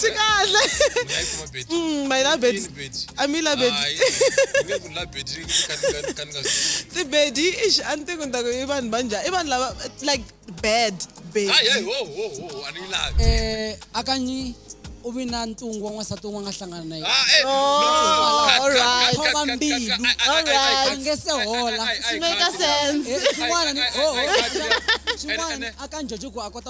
swi kahle mm, my labedi a mi labeditibedi ix a ni tiku ni taku i vanhu va njhani i vanhu lava like bad eh, akanyi u vi na ntungu wa n'wansati un'we nga hlangana na yenekhoma mbilu a nge se hola swin'wana a ka njojo ku a kota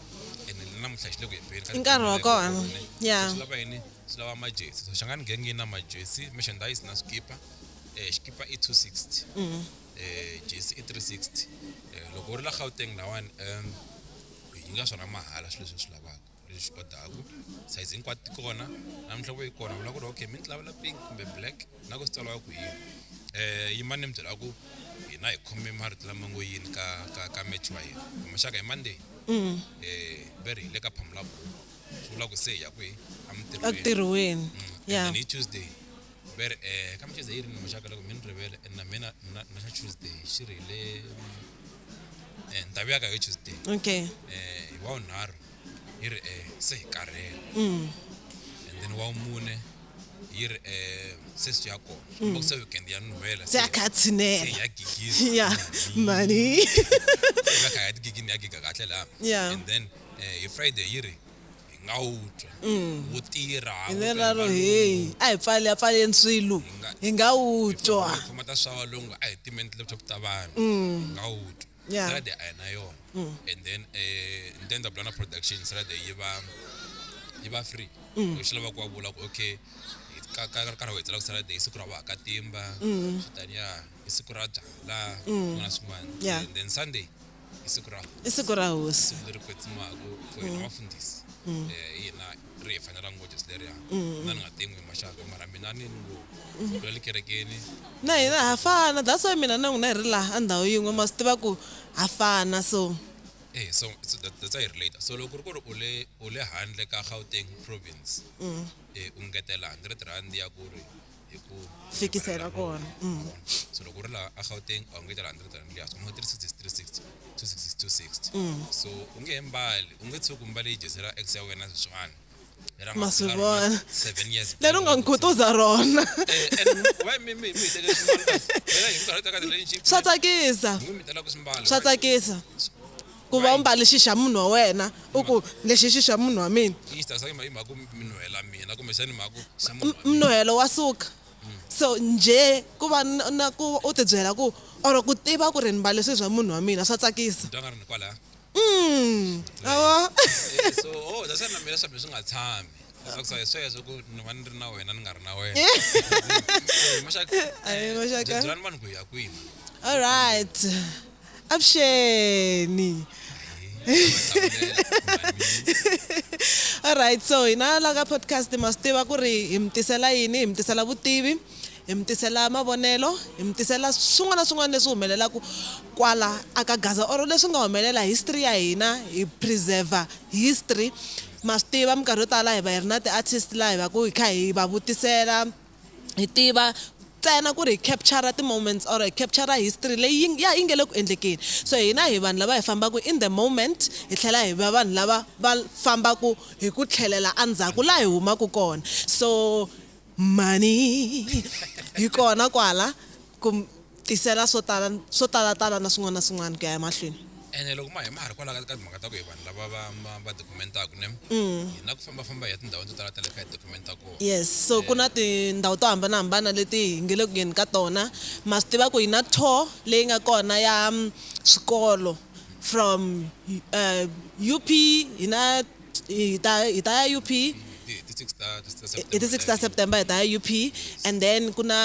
ene ni namuntlha xi le ku hembeni ka I nkarhi wa kona. Ene, Yeah. swi lava yini swi lava majesi so xangani genge yi na majesi merchandise na swikipa eh, xikipa i 260 Mm. eh, jesi i 360 eh, loko u ri la gauteng lawani um yi nga swona mahala swilo leswi swi lavaka leswi swi odaku sayizi hinkwato ti kona namuntlha vo yi kona vula ku ri okay mi ni ti lavela pink kumbe black na ku swi tsariwa ku yini um yimani ni mi byela ku hina hi khome marito lama ngo yini ka ka ka match wa hina kumaxaka hi monday um ve ri hi le ka phamula buku swi vula ku se hi ya kwihi emintirhweni entirhweni Mm, ya and then hi tuesday ve ri um ka mcheza yi ri ni maxaka loko mi ni rivele and na mina na na xa tuesday xi ri hi le um ndhawu ya ka hi tuesday okay um hi wawunharhu yi ri e se hi karhele and then wa vumune yi ri e se swi ya kona mm. loko se weekend ya nuhela se ya kha ya tshinela ya gigiza ya mani ya kha ya tigigini ya giga kahle la and then eh, hi friday yi ri nga wu twa mm. wu tirha hi lela ro heyi a hi pfali ya pfaleni swilo hi nga wu twa khoma ta swa valungu a hi timeni ti-laptop ta vanhu mm. hi nga wu twa Yeah. sarade a na yona and then um ni ta endla blana production sarade yi va yi va free loko xi lava ku va vula ku okay hi- ka ka ri karhi va hetsela ku sarade i siku ra vahakatimba xitani ya i siku ra byala swin'wana swin'wana Yeah. and then sunday i siku ra i siku ra hosi leri kwetsimaku for hina vafundhisi um hina ri hi fanela ngo Jesu leriya mm. na ni nga tengwi maxaka mara mina ni ni ngo mm. kula likerekeni na hina ha fana that's why mina na n'wina hi ri laha a ndhawu yin'we ma swi tiva ku ha fana so eh so so that, that's why hi ri later so loko ku ri ku ri u le u le handle ka Gauteng province mm. eh u ngetela 100 rand ya ku ri hi ku fikisela kona mm. so loko u ri laha a gauteng a wu nge ta laha hundred rand liyaso u nga tirhisa sixty three sixty two sixty two sixty mm. so u nge he mbali u nge tshuki u mbale yi dyesela ex ya wena sweswiwani ma swi vona leri u nga n'wi khutuza rona swa tsakisa swa tsakisa Ku va u mbale xi xa munhu wa wena, u ku, Lexi i xi xa munhu wa mina. Yi tirhisa hi mhaka ku mi nuhela mina kumbexana hi mhaka ku xa munhu wa mina. Nuhelo wa suka. So njhe ku va na ku u ti byela ku or ku tiva ku ri ni mbale swilo swa munhu wa mina swa tsakisa. Ni twa nga ri ni kwalaya. Ma vo? So, oh, that's why na mina swa mina swi nga tshami. Ni tsakisa hi sweswo ku ni va ni ri na wena ni nga ri na wena. Maxaka, Ahee, Maxaka. byelani vanhu ku hi ya kwini. Alright. avuxeni alright so hina la ka podcast ma swi tiva ku ri hi mi tisela yini hi mi tisela vutivi hi mi tisela mavonelo hi mi tisela swin'wana na swin'wana leswi humelelaku kwala a ka gaza or leswi nga humelela history ya hina hi preserve history ma swi tiva minkarhi yo tala hi va hi ri na ti-artist laha hi va ku hi kha hi va vutisela hi tiva ntsena ku ri hi capture ti-moments or hi capture history leyi yi ya yi nge le ku endlekeni so hina hi vanhu lava hi fambaka in the moment hi tlhela hi va vanhu lava va fambaka hi ku tlhelela endzhaku laha hi humaka kona so mhani yi kona kwala. Ku mi tisela swo tala, swo talatala na swin'wana na swin'wana ku ya emahlweni. Ene loko ma hi ma ha ri kwalaho ka ka timhaka ta ku hi vanhu lava va ma va dokumentaku ne, hi na ku famba-famba hi ya tindhawini to tala ta le kaya hi dokumenta kona. Yes, so ku na tindhawu to hambana-hambana leti hi nge le ku yeni ka tona. Ma swi tiva ku hi na tour leyi nga kona ya swikolo from UP, hi na hi ta hi ta ya UP Hi ti hi ti six ta ta September hi ta ya UP and then ku na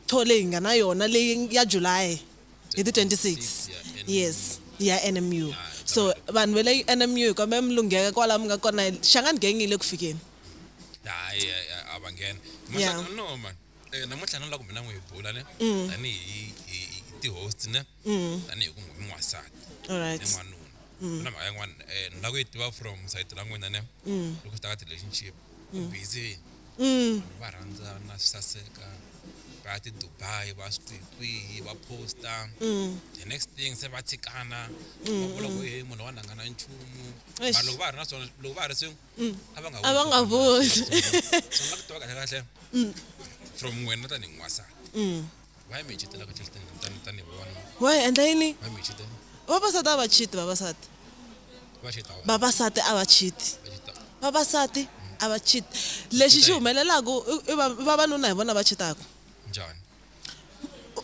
Tour leyi hi nga na yona leyi ya July hi ti 26 yes ya NMU so vanhu va le NMU hi kombela mi lungheka kwala mi nga kona Shangani gang yi le ku fikeni. Hayi a va nghena Yeah. no man namuntlha no la ku mina n'wi hi bula ne tanihi hi ti host ne. Mm. tani hi ku n'wi n'wansati All right. ni n'wanuna Mm. na mhaka yin'wana um ni lava ku yi tiva from sayiti ra n'wina ne Mm. loko swi ta ka ti-relationship ku Mm. busy Mm. va rhandzana swi saseka va ya ti-dubai va swi kwihi kwihi va posta Mm. the next thing se va tshikana Mm, va vula ku mm. he munhu wa nangana nchumu Eish. vanhu loko va ha ri na swona loko va ha ri swin'we Mm. a va nga A va nga vuli. so ni lava ku tiva kahle kahle Mm. from wena tanihi n'wansati Mm. Why me cheat like cheat tani tani one? Why endla yini? Why me cheat? Vavasati a va cheat vavasati. Va cheat. Vavasati a va cheat. Vavasati a va cheat. Lexi xi humelelaka i vavanuna hi vona va cheataka. Njhani?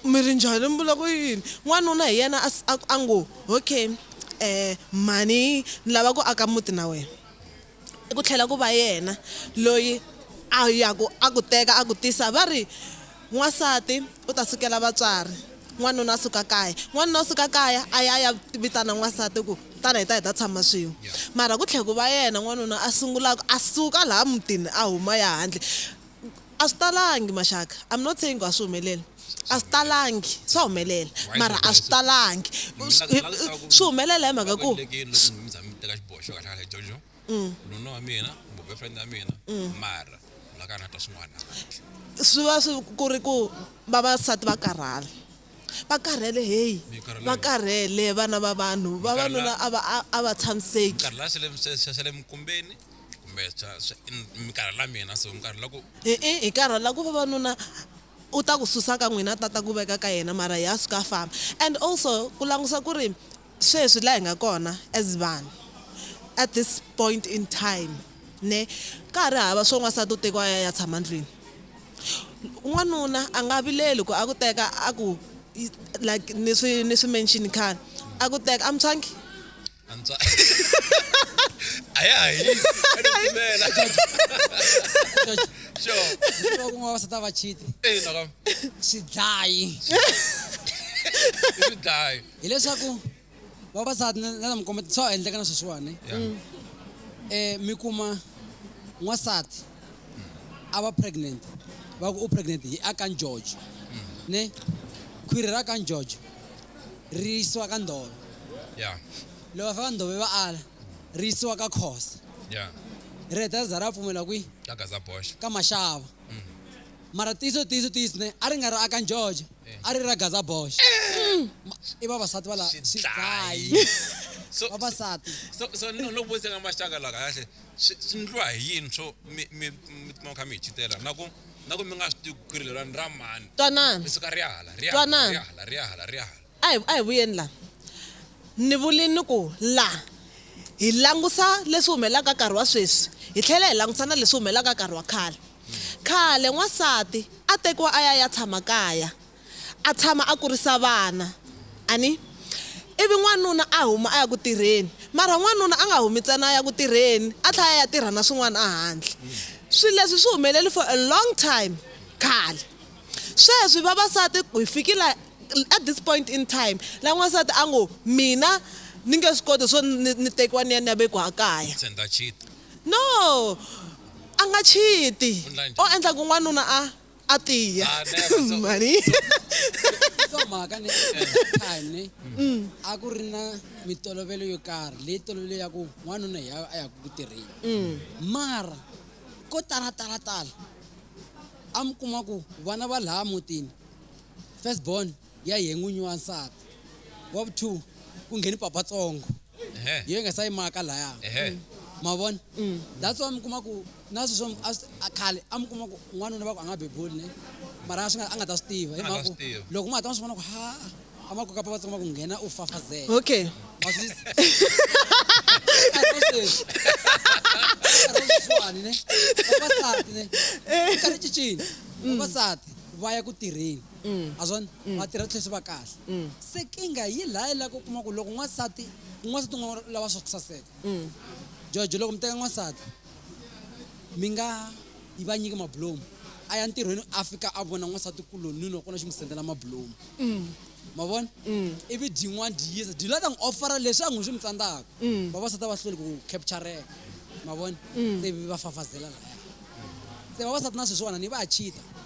Mi ri njhani mi vula ku yini? N'wanuna hi yena a ngo okay eh mhani ni lava ku aka muti na wena. I ku tlhela ku va yena loyi a ya ku a ku teka a ku tisa va ri n'wansati u ta sukela vatswari n'wanuna a suka kaya n'wanuna u suka kaya a ya a ya vitana n'wansati ku tana hi ta hi ta tshama swin'we mara ku tlhela ku va yena n'wanuna a sungulaka a suka laha mutini a huma ya handle. A swi talangi maxaka I'm not saying ku a swi humeleli a swi talangi swa humelela mara a swi talangi swi humelela hi mhaka ku nuna wa mina kumbe boyfriend ya mina mara la ka na twa swin'wana swi va swi ku ri ku vavasati va karhala va karhele heyi va karhele vana va vanhu vavanuna a va a va tshamiseki kumbe swa swa mi karhala mina so mi karhala ku e-e hi karhala ku vavanuna u ta ku susa ka n'wina a ta ta ku veka ka yena mara hi a suka a famba and also ku langusa ku ri sweswi laha hi nga kona as vanhu at this point in time ne ka ha ri hava swo n'wansati u tekiwa a ya a ya tshama ndlwini n'wanuna a nga vileli ku a ku teka a ku like ni swi ni swi mention khale a ku teka amutshwangi. antswa a ya ha hisi a ni pfumela sure Ntirho wa kun'wana vavasati a va chiti ina ka xidlayi i swidlayi hileswaku vavasati na na mi komba swa endleka na sweswiwani Yeah. um mi kuma n'wansati a va pregnant va ku u pregnant hi a ka njojo ne khwiri ra ka njojo ri yisiwa ka ndhove yeah loko va fika ndhove va ala ri yisiwa ka khosa yeah ri heta ri za ra pfumela kwi ka gaza bosh ka maxava mara tiyiso tiyiso tiyiso ne a ri nga ri a ka njojo a ri ra gaza bosh Ma- i vavasati va la Xidlayi. xidlayi so vavasati so so no no vutisa ka maxaka la kahle Swi ndliwa hi yini swo mi mi mi tikuma mi kha mi hi chitela na ku na ku mi nga swi tivi ku ri leriwani ra mani Twanana. ri suka ri ya hala ri ya hala ri Twanana. ya hala ri ya hala ri ya hala A hi a hi vuyeni la. Ni vurile ni ku la hi langusa leswi humelelaka nkarhi wa sweswi hi tlhela hi langusa na leswi humelelaka nkarhi wa khale. Khale n'wansati a tekiwa a ya a ya tshama kaya a tshama a kurisa vana, a ni. Ivi n'wanuna a huma a ya ku tirheni. Mara n'wanuna a nga humi ntsena a ya ku tirheni, a tlhela a ya tirha na swin'wana ehandle. Swilo leswi swi humelele for a long time khale. Sweswi vavasati hi fike la at this point in time la n'wansati a ngo mina ni nge swi koti swo ni ni tekiwa ni ya ni ya vekiwa ekaya. Se ni ta cheat. No, a nga cheat-i or endla ku n'wanuna a. a tiya Ah, never. So- mhani so mhaka ni time ni a ku ri na mitolovelo yo karhi leyi tolovelo ya ku n'wanuna hi a yaku ku tirheni mara ko talatalatala a mi kuma ku vana va laha mutini first born ya yehe n'winyi wa nsati wa vu two ku ngheni papa tsongo Ehe. yehe nga sa yimaka laya Ehe. ma vona that's why mi kuma ku na sweswo a swi- a khale a mi kuma ku n'wanuna va ku a nga bebuli ne mara a swi nga a nga ta swi tiva hi A nga mhaka swi ku tivi. loko ma hata ma swi vona ku ha a ma koka papa tsongo ma ku nghena u fafazela okay Ma swi- Nkarhi wa sweswi. Nkarhi wa sweswiwani ne vavasati ne nkarhi cincini vavasati va ya ku tirheni ma swona va tirha swi tlhe swi va kahle se kinga yi lha yi la ku kuma ku loko n'wansati n'wansati n'wa lava swa ku saseka jojo loko mi teka n'wansati mi nga yi va nyiki mabulomu a ya ntirhweni a fika a vona n'wansati kuloni loko na xi n'wi sendela mabulomu ma vona ivi dyin'wana dyi yisa dyi la ta n'wi offera leswi a n'wi swi mi tsandzaka vavasati a va hlweli ku captureka ma vona se va fafazela laya se vavasati na sweswiwani va ya cheater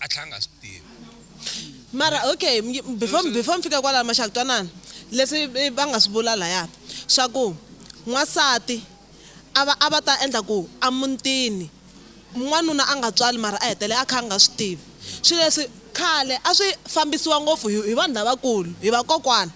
a tlhela a nga swi tivi. Mara okay before before ni fika kwalaya maxaka twanana leswi va nga swi vula laya swa ku n'wansati a va a va ta endla ku a mutini n'wanuna a nga tswali mara a hetelela a kha a nga swi tivi swilo leswi khale a swi fambisiwa ngopfu hi hi vanhu lavakulu hi vakokwana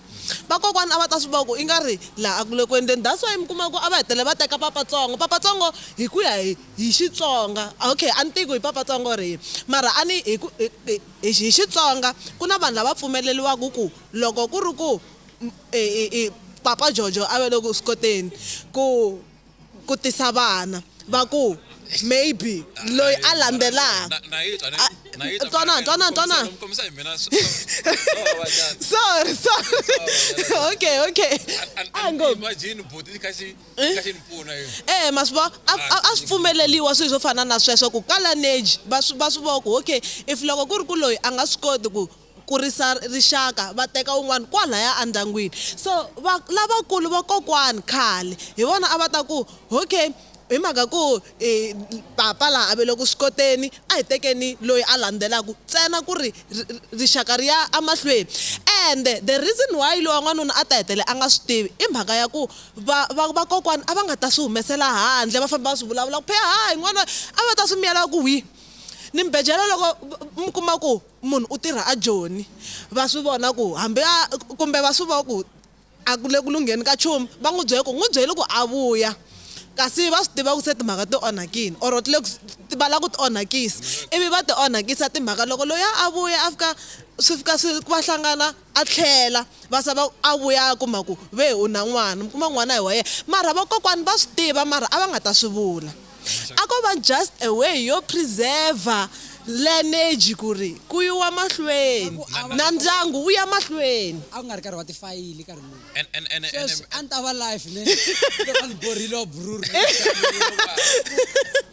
vakokwana a va ta swi vona ku i nga ri laha a ku le ku endleni that's why mi kuma ku a va hetelela va teka papatsongo papatsongo hi ku ya hi Hi Xitsonga, Okay, a ni tivi ku hi papatsongo rihi, mara a ni hi ku hi hi Xitsonga ku na vanhu lava pfumeleriwaka ku loko ku ri ku Papa Jojo a va le ku swi koteni ku ku tisa vana va ku maybe loyi a landzelaka twanana twanana twanana sorry sorry okay okay a hi ngo. e ma swi vona a swi pfumeleliwa swilo swo fana na sweswo ku ka laneji va swi va swi vona ku okay if loko ku ri ku loyi a nga swi koti ku kurisa rixaka va teka un'wana kwalaya endyangwini so va lavakulu vakokwani khale hi vona a va ta ku okay hi mhaka ku i papa laha a ve le ku swi koteni a hi tekeni loyi a landzelaka ntsena ku ri rixaka ri ya emahlweni ende the reason why lowa n'wanuna a ta hetelela a nga swi tivi i mhaka ya ku Va, va, vakokwani a va nga ta swi humesela handle va famba va swi vulavula ku phe hayi n'wana a va ta swi miyela ku hwi ni mbejela loko mi kuma ku munhu u tirha a joni va swi vona ku hambi a kumbe va swi vona ku a ku le ku lungheni ka nchumu va n'wi byela ku n'wi byeli ku a vuya kasi va swi tiva ku se timhaka ti onhakile or ti le ku va lava ku ti onhakisa ivi va ti onhakisa timhaka loko loyi a vuya a fika swi fika swi va hlangana A tlhela va sa va a vuya a kuma ku ve u na n'wana, mi kuma n'wana i wa yena mara vakokwani va swi tiva mara a va nga ta swi vula. A ko va just a way yo preserver lineage ku ri ku yiwa mahlweni na ndyangu wu ya mahlweni. A ku nga ri nkarhi wa tifayili nkarhi luwa. Sweswi a ni ta va live ni ri loko a ni borhile wa bruru.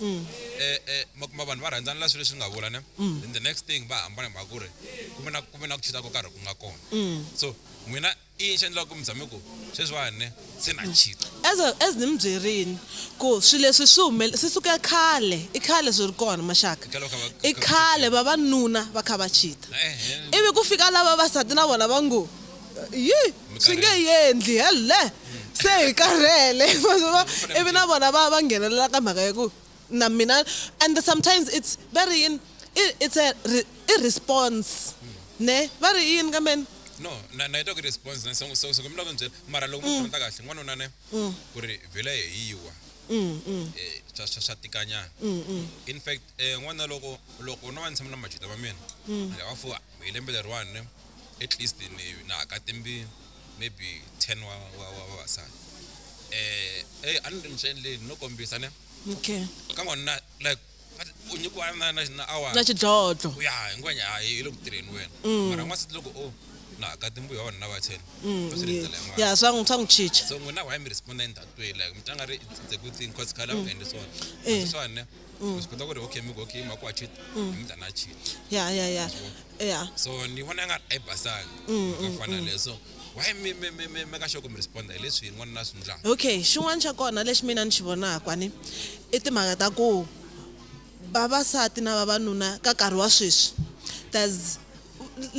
mm. eh, eh, makuma vanhu va rhandzana la swilo leswi nga vula ne mm. then the next thing va hambana hi mhaka ku ri ku ve na ku ve na ku chita ko karhi ku nga kona mm. so n'wina i yini xi endlaka ku mi tshame ku sweswiwani ne se na chita as as ni mi byerini ku swilo leswi swi humele swi suke khale i khale swi ri kona maxaka i khale vavanuna va kha va chita ivi ku fika lava vasati na vona va ngo yi swi nge yendli helle se hi karhele ivi na vona va va nghenelela ka mhaka ya ku na mina and sometimes it's va ri yini it's a i response ne va ri yini ka meni no na na ita ku response na songo so so kumla ku njela mara loko mm. mutata kahle n'wanuna ne mm. ku ri vhela hi yiwa mm, eh swa swa swa tikanyana in fact eh n'wana loko loko no va ni tshama na majuda va mina lava fo hi lembe leriwani ne at least maybe na haka timbirhi maybe ten wa wa wa vavasati eh hey a ni ri ni swi endleni no kombisa ne okay ka n'wanuna like u nyikiwa na na na awara na xidlodlo ya hinkwanya hayi yi le ku tirheni wena mm. mara n'wansati loko o na haka timbirhi wa vanhu na va ten mm, va swi rindzela yin'wana ya swa swa n'wi chicha so n'wina why mi responda in that way like mi tlanga ri it's a good thing cause khale a ku mm. endli swona eh. swona mm. zvikonza kuti okay miko okay mako achit mm. mda nachit ya ya ya ya so ni vona nga ai basanga mm, mm, ka fana mm. leso why me me me me me ka shoko mi respond hi leswi n'wana na swi ndlaka okay xin'wana xa kona lexi mina ni xi vonaka ni i timhaka ta ku vavasati na vavanuna ka nkarhi wa sweswi there's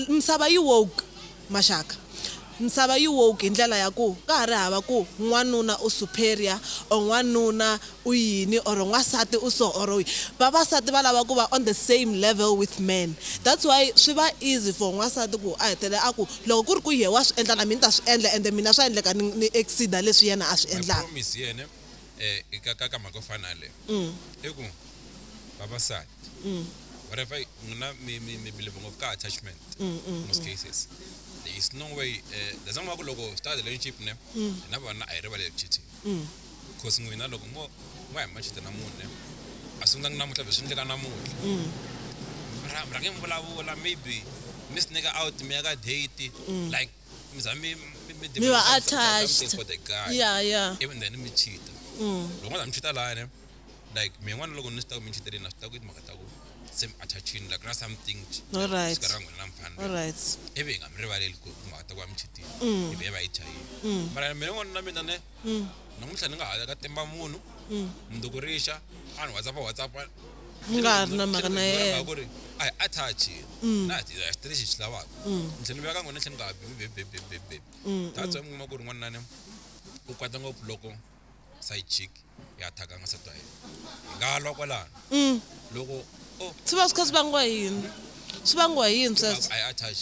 Misava yi woke, Maxaka, Misava yi woke hi ndlela ya ku ka ha ri hava ku n'wanuna u superior or n'wanuna u yini or n'wansati u so or vavasati va lava ku va on the same level with men that's why swi va easy for n'wansati ku a hetelela a ku loko ku ri ku yehe wa swi endla na mina ni ta swi endla ende mina swa endleka ni ni exceed-a leswi yena a swi endlaka. eh, ka, ka, ka mhaka yo fana leyo mm. i ku vavasati mm. whatever n'wina mi mi mi believe ngopfu ka attachment mm, mm, most mm. cases there is no way eh, there's no ku loko star relationship ne mm. na vona a hi rivaleli cheating mm. cause n'wina loko mo mo ya machita na munhu ne a sungulanga namuntlha byi swi endleka namuntlha mm. mrhange mi vulavula maybe mi swi nyika out mi ya ka date mm. like Means I mean, me- me- Me were some- some- something attached. for the guy. Yeah, yeah. Even then, me cheat. Mm. Loko ndza mi cheat la ne, like me n'wana loko ni swi ta ku mi cheatele na swi ta ku i timhaka ta ku se mi attachini like na something All right. sika ra n'wina na mfana All right. ivi hi nga mi rivaleli ku hi timhaka ta ku va mi cheatile Mm. ivi hi va hi chayile Mm. mara mina n'wana na mina ne mm. namuntlha ni nga ha ka timba munhu mm. mundzuku rixa a ni whatsapp whatsapp ni nga ha ri na mhaka na yena ku ri a hi attach mm. na hi swi tirhi xi lavaka mm. ni tlhela ni veka n'wina ni tlhela ni nga ha bebebebebebe that's why mi kuma ku ri n'wanunani u kwata ngopfu loko side chick ya attack-a n'wansati wa yena hi nga lwa kwalano loko swi va swi kha swi vangiwa yini swi vangiwa yini sweswo a hi attach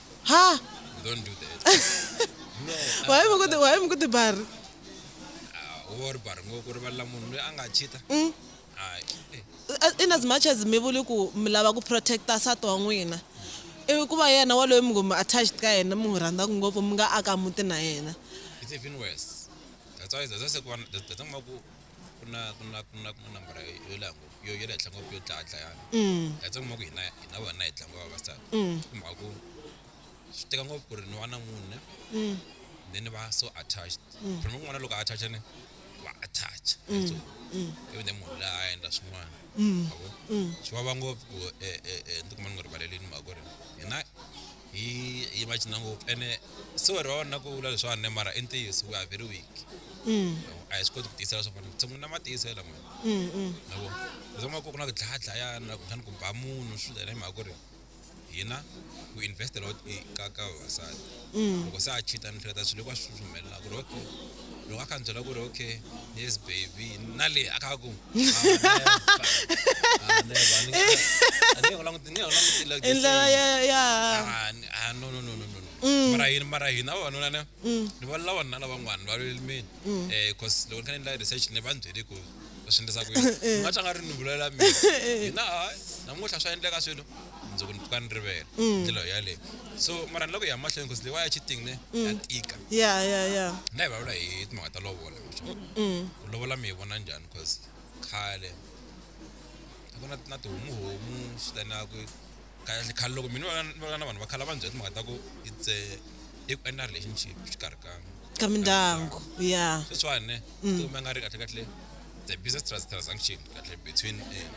ha You don't do that. no. uh, waye mi ku ti- waye mi ku tibari uh, wo ri bari ngo ku rivalela munhu loyi a nga chita. Mm. Hayi. Eh, As- in as much as mi vuli ku mi lava ku protecta nsati wa n'wina ivi ku va yena waloyi mi ngo mi attached ka yena mi n'wi rhandzaka ngopfu mi nga aka muti na yena It's even worse. That's why that's why I said one- that- that's why ku ku na ku na ku na ku na nambara yo yo leha ngopfu yo yo le henhla ngopfu yo dlaya dlayana Mm. that's why kuma ku hina hina vana hi tlanga vavasati Mm. i mhaka ku swi teka ngopfu ku ri ni va na mune Mm. then ni va so attached phela n'wana loko a attach ni va attach so Mm. ivi then munhu laha a endla swin'wana Mm. yabo Mm. swi vava ngopfu ku eh, eh, eh, ni tikuma ni nga rivalelini mhaka ku ri hina hi hi va cina ngopfu ene sorry va va na ku vula leswiwani ne mara i ntiyiso we are very weak Mm, a hi swi koti ku tiyisela swa vona tshungula na matiyiso yela mani mm, mm. yabo leswi nga ku ku na ku dlaya dlayana ku tlhani ku ba munhu swi dlayana hi mhaka ku ri hina ku investela ka ka vavasati loko se a cheat a ni hleketa swilo hinkwaswo swi humelela ku ri okay loko a kha ni byela ku ri okay yes baby na le a kha ku i ndlela ya ya no no no no no mm. mara hina mara hina vavanuna ne mm. ni va lavanuna lavan'wana va lwelimini um mm. eh, cause loko ni kha ni endla research ni va ni byele ku u swi endlisa ku yini u nga tlanga ri ni vulalela mina hina hayi namuntlha swa endleka swilo mundzuku ni pfuka ni rivele mm. ndlela yo yaleyo so mara ni lava ku ya mahlweni because leyi wa ya cheating ne mm. ya tika ya ya ya na hi vulavula hi timhaka ta lovola mm. ku lovola mi yi vona njhani because khale a ku na na tihomuhomu swi tanaku kahle khale loko mina va va na vanhu va khale va ndzi byela timhaka ta ku it's i ku endla relationship exikarhi ka ka mindyangu ya sweswiwani ne mm. kumbe nga ri kahle kahle the business transaction kahle between eh,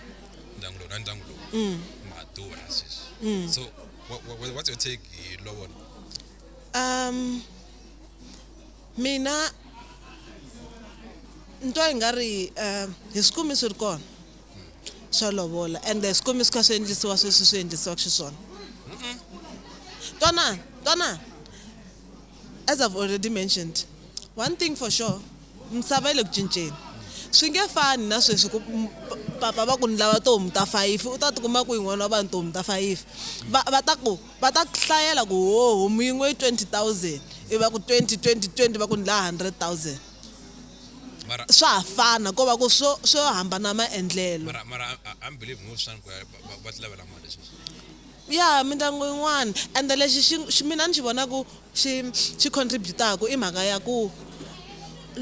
ndyangu lowu na ndyangu lowu mm. madura sweswi mm. so what's your take hi lovona um mina nto yi nga ri um hi swi kumi swi ri kona swo lovola ende swikwembu swi kha swi endlisiwa sweswi swi endlisiwaka xiswona twanani twanani as i've already mentioned one thing for sure misava yi le ku cinceni swi nge fani na sweswi ku papa va ku ni lava tihomu ta fayifi u ta tikuma ku yin'wana wa vanhu tihomu ta fayifi va va ta ku va ta hlayela ku ho homu yin'we yi twenty thousand i va ku twenty twenty twenty va ku ni laha hundred thousand mara swa ha fana ko va ku swo swo hambana maendlelo mara mara I- I'm believe ngopfu sani ku ya ba- ba- va ti lavela mali sweswi ya mindyangu yin'wana ende lexi xi xi- mina ni xi vonaku xi xi contributaku i mhaka ya ku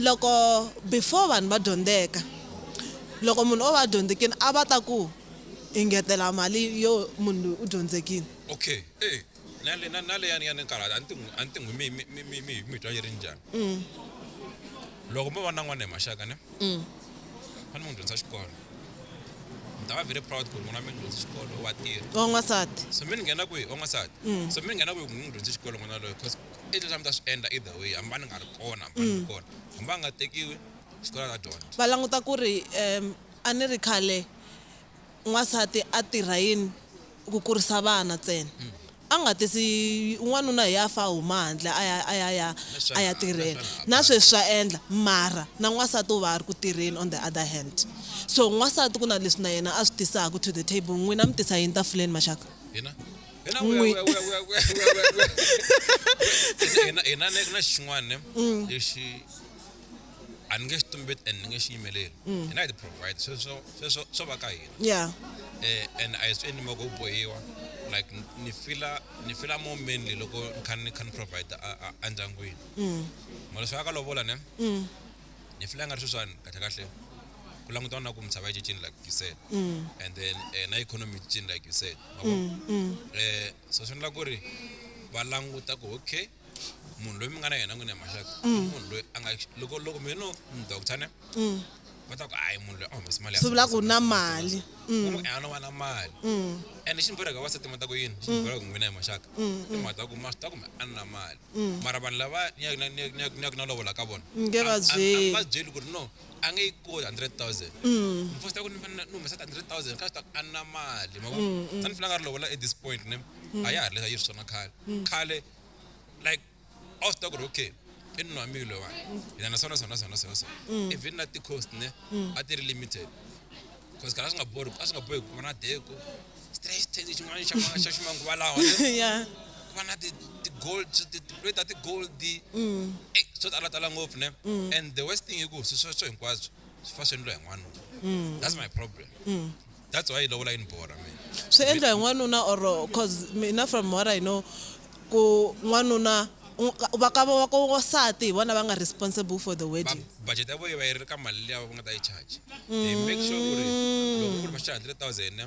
loko before vanhu va dyondzeka loko munhu o va a dyondzekini a va ta ku hi ngetela mali yo munhu loyi u dyondzekile okay e na le na na le ya ni ya ni kala a ni ti n'wi a ni ti n'wi mi mi mi mi mi twa yi ri njhani mm. loko mo va na n'wana hi maxaka ne mm. a ni n'wi dyondza xikolo ni ta va very proud ku ri n'wana mi ni dyondzi xikolo wa tirha wa n'wansati so mi ni nghena kwihi wa n'wansati mm. so mi ni nghena kwihi ku ni n'wi dyondzi xikolo n'wana loyo because i leswi a mi ta swi endla either way hambi va ni nga ri kona hambi va ni ri kona hambi va nga tekiwi xikolo a ta dyondza va languta ku ri um a ni ri khale n'wansati a tirha yini ku kurisa vana ntsena a nga tisi n'wanuna hi ya fa huma handle a ya a ya ya a ya tirhela na sweswi swa endla mara na n'wansati u va a ri ku tirheni on the other hand so n'wansati ku na leswi na yena a swi tisaka to the table n'wina mi tisa yini tafuleni maxaka hina na xin'wana lexi a ni nge xi tumbeti and ni nge xi yimeleli mm. hina hi ti-provide sweswo sweswo swo va ka hina yeah eh and a hi swi endli moko u bohiwa like ni fila ni fila more mainly loko ni kha ni kha ni provide endyangwini mm. mara swi aka lovola ne mm. ni fila nga ri sweswani kahle kahle ku langutana na ku misava yi cincini like you said and then eh, na economy yi cincini like you said mavo eh so swi endla ku ri va languta ku okay munhu loyi mi nga na yena n'wini ya maxaka i mm. munhu loyi a nga loko loko mi no doctor ne mm. va ta ku hayi munhu loyi a humesa mali swi vula ku na mali mm. a no va na mali ende xi ni boreka vasati ma ta ku yini xi ni boreka n'wina hi maxaka i mhaka ta ku ma swi ta kumbe a ni na mali mara vanhu lava ni yaku na lovola ka vona nge va byeli va byeli ku ri no a nge yi koti 100,000 mm. ni fosta ku ni fanele ni humesa 100,000 ka swi ta a na mali ma mm, mm. ni fanele a ri lovola at this point ne mm. a ya ha ri leswi a yi ri swona khale mm. khale like a wu swi ta ku ri okay i nuna mi lowa mm. hina na swona swona swona swona swona even na ti-cost ne a ti ri limited because kana asingabori asingabohi kuva na deko straight xin'wana xa xa ximanguva lawa yeah kuva na ti ti gold ti ti plate ti gold mm eh so tala tala ngopfu ne mm. and the worst thing iku swi sweswo hinkwaswo swi fa swi endliwa hi n'wanuna mm. that's my problem mm. that's why lovola yi ni bora mina swi endla hi n'wanuna or cause mina from what i know Ku n'wanuna u va ka va ka wansati hi vona va nga responsible for the wedding. Va budget ya voho yi va yi ri ka mali liya va nga ta yi charge. They make sure ku ri loko ku ri va charge hundred thousand ne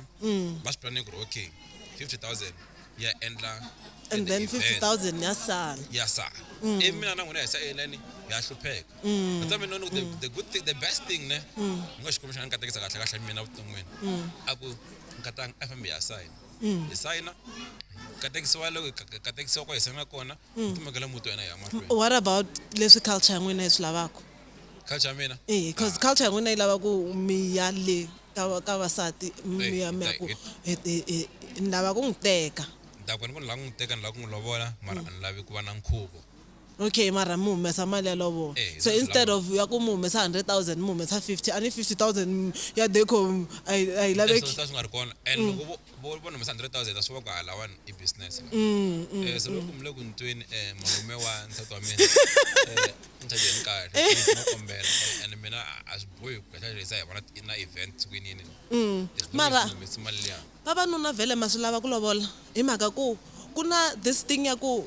va swi planning ku ri okay fifty thousand ya endla And then fifty thousand ya sala. ya sala. Ivi mina na n'wina hi sa yelani hi ya hlupheka. That's why mina ni ku the the good thing the best thing ne ni ngo Xikwembu xi nga ni katekisa kahle kahle mina vuton'wini a ku nkatanga a hi fambi hi ya sayina. mm. hi sayina katekisiwa loko katekisiwa ko hi sayina kona mm. tumekela muti wa hina hi ya mahlweni what about leswi culture ya n'wina yi swi lavaka culture ya mina eh because ah. culture ya n'wina yi lava ku mi ya le ka ka vasati mi ya mi ya ku ni lava ku n'wi teka ni ta ku ni ku ni lava ku n'wi teka ni lava ku n'wi lovola mara a ni lavi ku va na nkhuvo Okay mara mi humesa mali ya lovola Eh, so instead lovola. of ya ku mi humesa 100,000 mi humesa 50 a ni 50,000 ya deco a yi a yi laveki ta swi nga ri kona and Mm. loko vo- vo vo ni humesa 100,000 a swi va ku ha lawani i business la. Mm, mm, Eh, so mm. loko mi le ku ni tweni eh, malume wa nsati wa mina eh, ni chajeni kahle please, no kombela Eh, and mina a- a swi bohi ku chajerisa hi vona ti- na event siku yinini Mm. As long mara as ni humese mali liya vavanuna vhele ma swi lava ku lovola hi mhaka ku ku na this thing ya ku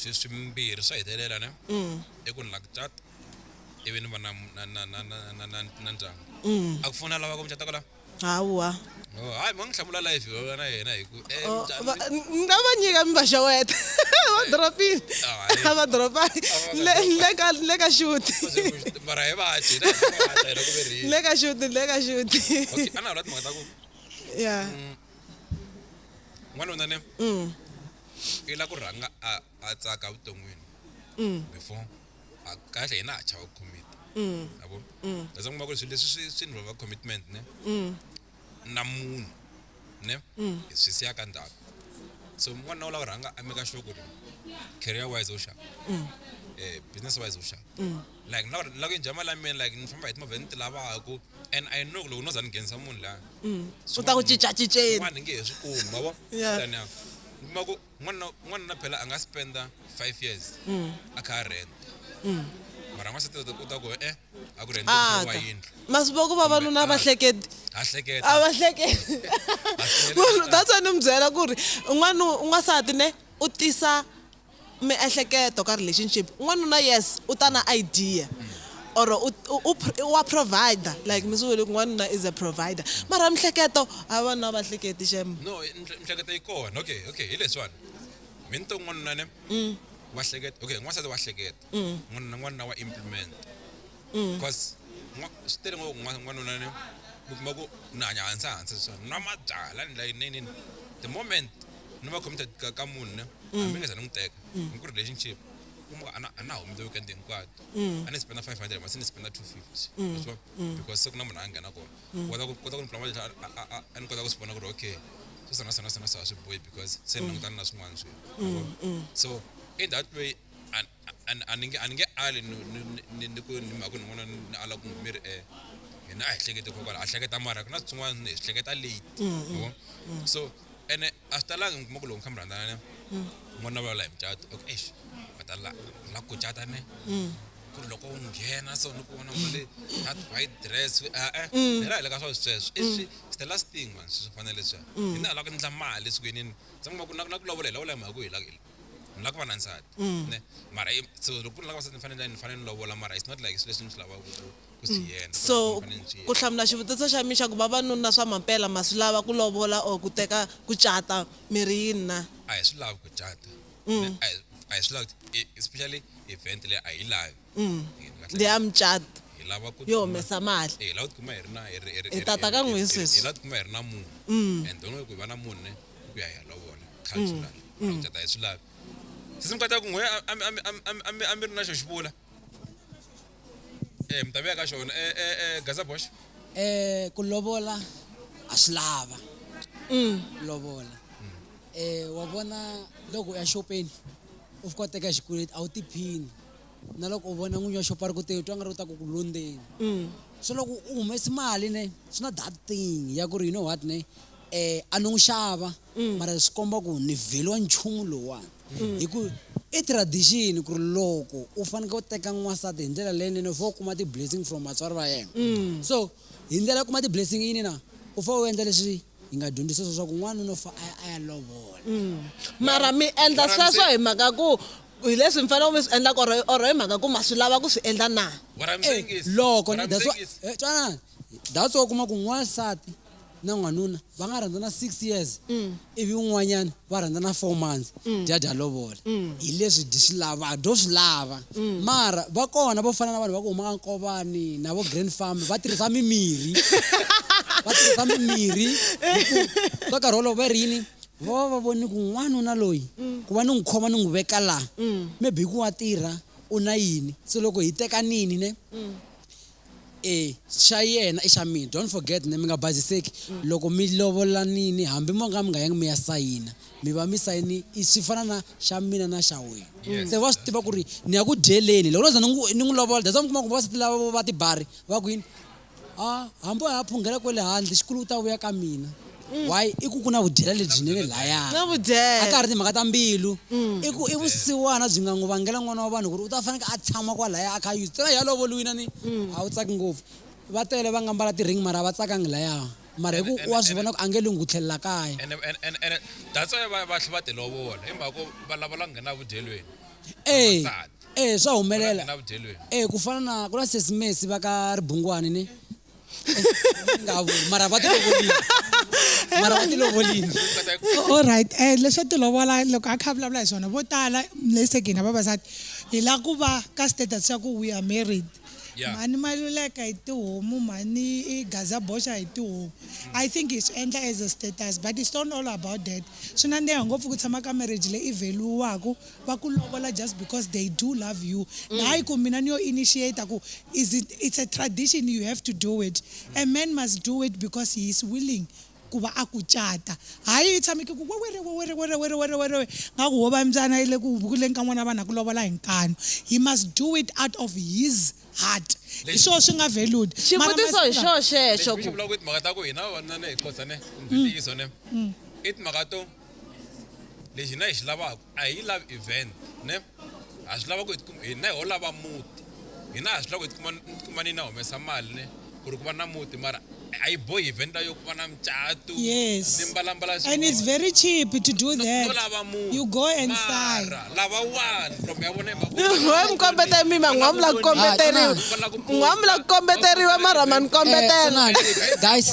swiswimbirhi swa hetelela ne mm. i ku ni la ku cata ivi ni va na ndyangu mm. a ku fona lava ku mucata kola hawa oh, hayi mi nga n'wi hlamula life va na yena hi ku eh, oh, ni nga va nyika mi va xeweta va dropile ah, va dropile ah, le ka xuti mara hi vaci le ka xuti le ka xuti a na ha vula timhaka ta ku ya mm. n'wanuna ne mm. i la ku rhanga a a tsaka vuton'wini mm. before a kahle hina ha chava commit mm. yabo kasi kuma ku ri swilo leswi swi swi involva commitment ne na munhu ne hi swi siya ka ndhawu so n'wanuna u lava ku rhanga a meka sure ku ri career wise u xava um business wise u xava like na na ku enjoy mali ya mina like ni famba hi timovha leti ni ti lavaka and i know loko no za ni nghenisa munhu la mm. u ta ku cincacinceni n'wana ni nge he swi kumi ma vo tani ya mi kuma ku n'wana n'wana na phela a nga spenda five years mm. a kha a rent mm. mara n'wansati u ta ku e a ku rent ah, wa yindlu masiku va ku vavanuna a va hleketi a hleketa a va hleketi that's why ni mi byela ku ri un'wana un'wansati ne u tisa miehleketo ka relationship n'wanuna yes u ta na idea or u u u wa provider like mi swi vule ku n'wanuna is a provider mara mihleketo a vanuna va hleketi xem no mhle- mihleketo yi kona okay okay hi leswiwani mi ni to n'wanuna ne wa hleketa okay n'wansati wa hleketa n'wanuna n'wanuna wa implement because swi tele ngopfu n'wanuna ni mi kuma ku ni hanya hansi hansi so nwa mabyala ni like nini the moment ni va committed ka ka munhu ne hambi nga za ni n'wi teka ni ku relationship kuma ana ana humi the weekend hinkwato a ni spenda 500 masi ni spenda 250 so because se ku na munhu a nghena kona kota ku kota ku ni pula mali a ni kota ku swi vona ku ri okay so sana sana sana swa swi boy because se ni langutana na swin'wana swi so in that way a ni nge a ni nge ali ni ni ni ku ni mhaka ni n'wana ni ala ku n'wi mi ri e yena a hi hlekete kokwala a hleketa mara ku na swin'wana ni hi swi hleketa late yabo so ene a swi talanga mi kuma ku loko ni kha mi rhandzana ne n'wana va la hi mucato ok eish va ta la la ku cata ne ku ri loko u nghena so ni ku vona mali that white dress e-e hi la hi le ka swa sweswo i swi it's the last thing mani swi swi fanele leswiya hina hi la ku endla mali esikwini ni se ni kuma ku na ku na ku lovola hi lovola hi mhaka ku hi la. ni lava ku va na nsati mm. ne mara so loko ku ri lava vasati ni fanele ni fanele ni lovola mara it's not like swilo leswi ni swi lavaka ku swi mm. yena so ku hlamula xivutiso xa mina xa ku vavanuna swa mampela ma swi lava ku lovola or ku teka ku cata miri yini na a hi swi lavi ku cata mm. a hi swi lavi e, especially event leyi a yi lavi ndi ya mucat hi lava ku yo humesa mali hi lava ku tikuma hi ri na hi tata ka n'wini sweswi hi lava ku tikuma hi ri na munhu and don't ku hi va na munhu ne ku ya hi ya lovola cultural mm. a hi swi lavi sisi mi kota ku n'we a mi ri na xo xi vula um mi ta vuya ka xona um eh, eh, gaza box um ku lovola a swi lava mm. lovola um wa vona loko u ya xopeni u fika u teka xikweleti a wu tiphini na loko u vona n'winyi wa xopo a ri ku te twa nga ri u ta ku ku londzeni mm. so loko u humesi mali ne swi na that thing ya ku ri you know what ne um a ni n'wi xava mm. mara swi komba ku ni vheliwa nchumu lowani mm. hi ku i tradition ku ri loko u fanekele u teka n'wansati hi ndlela leyinene u fa u kuma ti-blessing from vatswari va yena mm. so hi ndlela ya kuma ti-blessing yini na u fa u endla leswi hi nga dyondzisa swo swa ku n'wana no fa a ya lovola mm. mara mi endla sweswo hi mhaka ku hi leswi mi fanele mi swi endla or or hi mhaka ku ma swi lava ku swi endla na eh, loko eh, twanani that's why u kuma ku n'wansati na n'wanuna va nga rhandzana six years mm. ivi un'wanyana va rhandzana four months mm. dyadya lovola mm. hi leswi dyi swi lava dyo swi lava mara va kona vo fana na vanhu va ku huma ka nkovani na vo grand farm va tirhisa mimirhi va tirhisa mimirhi ka nkarhi wolowo va ri yini va va va voni ku n'wanuna loyi ku va ni n'wi khoma ni n'wi veka laha maybe ku wa tirha u na yini se loko hi tekanini ne E xa yena i xa mina. Don't forget ne mi nga baziseki loko mi lovolanini hambi mo nga mi nga yangi mi ya sayina mi va mi sayini i swi fana na xa mina na xa wena se va swi tiva ku ri ni ya ku dyeleni loko no za ni n'wi ni n'wi lovola that's why mi kuma ku vavasati lava vo va tibari va ku yini a hambi a ya phunghela kwele handle xikulu u ta vuya ka mina mm. why i ku ku na vudyela lebyinene layana a ka ha ri timhaka ta mbilu mm. i ku i vusiwana byi nga n'wi vangela n'wana wa vanhu ku ri u ta faneke a tshama kwalaya a kha yuzi tsena ya lovoliwina ni mm. a wu tsaki ngopfu va tele va nga mbala ti-ring mara va tsakangi laya mara hi ku wa swi vona ku a nge lungu tlhelela kaya that's why va tlhe va tilovola hi mhaka ku va lava la nghena vudyelweni e e swa humelela e ku fana na ku na sesimesi va ka ribungwani ni mara va tilovolile mara va tilovolile all right um eh, leswa tilovola loko a kha vulavula hi swona vo tala lesekini vavasati hi la ku va ka status xa ku we are married mhani maluleka hi tihomu mhani i gaza boxa hi tihomu i think hi swi endla as a status but it's not all about that swi nandeha ngopfu ku tshama ka marriage leyi i value-waku va ku lovola just because they do love you mm. hayi ku mina ni yo initiate ku is it, it's a tradition you have to do it a man must do it because he is willing ku va a ku cata hayi i tshameke ku wewere wewere were were were were nga ku wo va mbyana yi le ku hubukuleni ka n'wana vanhu a ku lovola hi nkanu he must do it out of his heart hi swona swi nga veludi xivutiso hi xo xexo ku mhaka ta ku hina vavanuna ne hi qosane ntiyiso ne i timhaka to lexi hina hi xi lavaka a hi lavi event ne ha swi lava ku hi tikuma hina ho lava muti hina ha swi lava ku hi tikuma tikuma ni na humesa mali ne ku ri ku va na muti mara a yi bohi event yo ku va na mucatu yes ni mbalambala and it's very cheap to do that no lava muti you go and sign lava wani from ya vona wa mi kombeta mima n'wa mi la ku kombeteriwa n'wa mi la ku kombeteriwa mara ma ni kombetela guys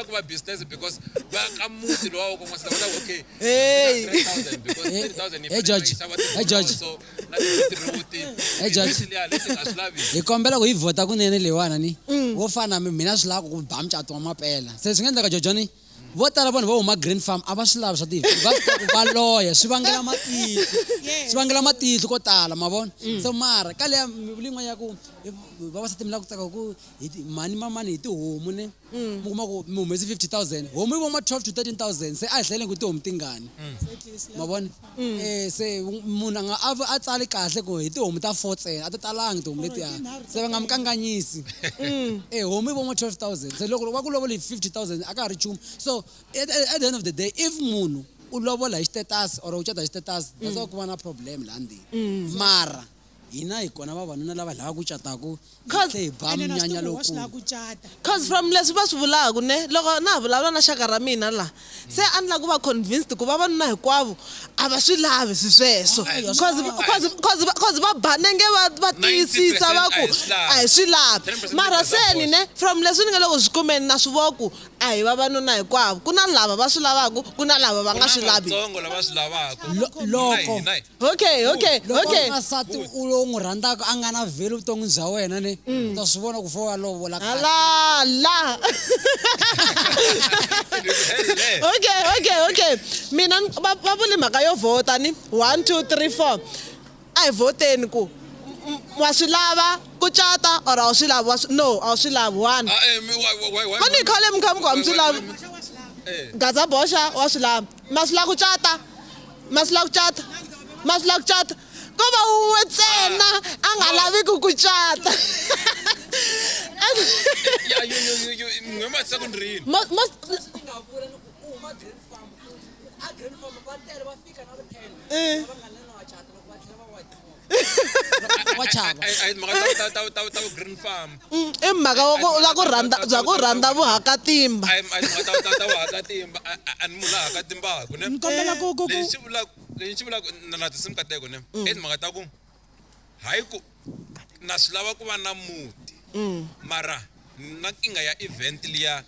ku va business because baka muzi lowa wako mwasika kuda okay Hey. 3000 because Hey, 3000 hey, George. Hey, George. so na the route Hey, George. especially ya lesi ngaslavi hi kombela ku yi vhota kunene leyiwana ni wo fana mi mina swi lava ku ku ba mucato wa mapela se swi nga endleka jojoni vo tala vanhu va huma green farm a va swi lavi swa tivi va swi tiva ku va loya swi vangela matihlo swi vangela matihlo ko tala ma vona se mara ka leya mivuli yin'wana ya ku eh, vavasati mi lava ku tsaka ku hi ti- mhani mamani hi tihomu ne mm. mi kuma ku mi humesi 50000 homu yi voma 12 to 13000 se a hi hlele ku tihomu tingani mm. ma vona um se munhu a nga a tsali kahle ku hi tihomu ta four tsena a ti talangi tihomu letiya se va nga mi kanganyisi e homu yi voma 12000 se loko va ku lovola hi 50000 a ka ha ri nchumu so at, at the end of the day if munhu u lovola hi xitetasi or u cata hi xitetasi that's why ku va na problem laha ndini mara hina hi kona vavanuna lava lava ku cataka hi Cause- tlhe hi ba ene na swi munyanya tivi wa swi lava lowukulu ku cata cause from leswi va swi vulaka ne loko na ha vulavula na xaka ra mina la se a ni lava ku va convinced ku vavanuna hinkwavo a va swi lavi swi sweswo Ai, ya swi Cause- lava. cause- cause va- cause va ba nenge va va tiyisisa va ku a hi swi lavi 10% mara se ni ne from leswi ni nga le ku swi kumeni na swi vo ku a hi vavanuna hinkwavo ku na lava va swi lavaka ku na lava va nga swi lavi lava swi lavaka Lo- loko okay okay loko okay n'wansati u lowu n'wi rhandzaka a nga na vheli vuton'wi bya wena ne u ta swi vona ku fo wa lovola kahle. ala la okay okay okay mina ni- va va vuli mhaka yo vhota ni one two three four a hi vhoteni ku m- m- wa swi lava ku cata or a wu swi lavi wa swi- no a wu swi lavi one Ah, eh, mi- why- why- why- why- a ni khale mi kha mi ku a mi swi lavi gaza boxa wa swi lava masula ku cata masula ku cata masula ku cata ko va wun'we ntsena a nga laviki ku cata wa chava i mhaka ya ku rhandza bya ku rhandza vuhakatimba ni kombela ku ku lexi vulaka lexi vulaka na na tinsimu ka teko ne mm. i timhaka ta ku hayi ku na swi lava ku va na muti mm. mara na kinga ya event liya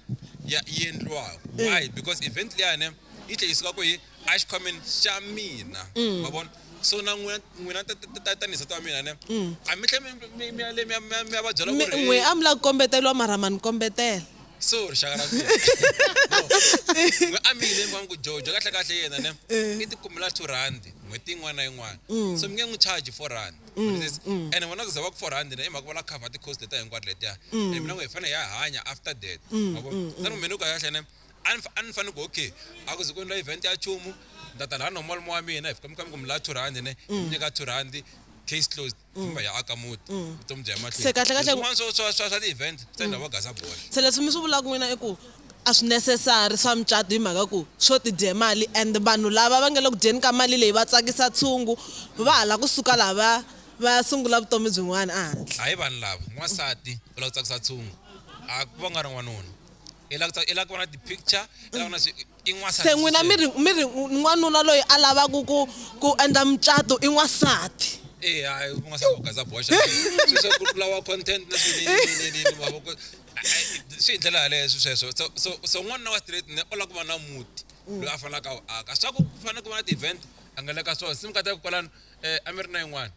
ya yi endliwaka mm. why because event liya ne yi tlhe yi suka ku yi a xikhwameni xa mina ma vona so na n'wina n'wina ta- ta- ta- ta- tanihi nsati wa mina ne a mi tlhe mi- mi- mi ya le mi ya- mi ya- mi ya va byela ku Mi- ri, n'we "Hey, a mi lava ku kombeteliwa mara ma ni kombetela so rixaka ra mina No. N'we a mi yile mi vona ku jojo kahle kahle yena ne i ti kumela two rand n'hweti yin'wana na yin'wana so mi nge n'wi charge four rand ene vona ku za va ku four rand ne i mhaka va la cover ti-cost letiya hinkwato letiya and mina n'we hi fanele hi ya hanya after that ma vona se ni mina ku kahle kahle ne a ni fa- a ni fanele ku okay a ku ze ku endla event ya chumu nda ta laha nomolo wa mina hi fika mi kamba ku mi laha two rhandi ne mi nyika two rhandi case closed kumbe ya aka muti vutomi bya ya Se kahle kahle- mahlweni swa swa swa swa ti-event swi endla va gasa bola se leswi mi swi vulaka n'wina i ku a swi necessary swa mucato hi mhaka ku swo tidye mali and vanhu lava va nge le ku dyeni ka mali leyi va tsakisa tshungu va hala kusuka laha va va sungula vutomi byin'wana ehandle hayi vanhu lava n'wansati u lava ku tsakisa tshungu a ku va nga ri n'wanuna i lava ku ta- i lava ku vona ti-picture i lava ku vona swi- i n'wansati se n'wina mi ri mi ri n'wanuna loyi a lavaka ku ku endla mucato i n'wansati Eh, hayi n'wansati u gaza boxa Swi- swi- ku lava content na swi- ni- ni- ni- ni- ni- mavoko. Ai, ai, swi hi ndlela yaleyo swi sweswo so so so n'wanuna wa straight ne u lava ku va na muti loyi a fanelaka a wu aka swa ku ku fanele ku va na ti-event a nga le ka swona sim kata kwalano eh, a mi ri na yin'wana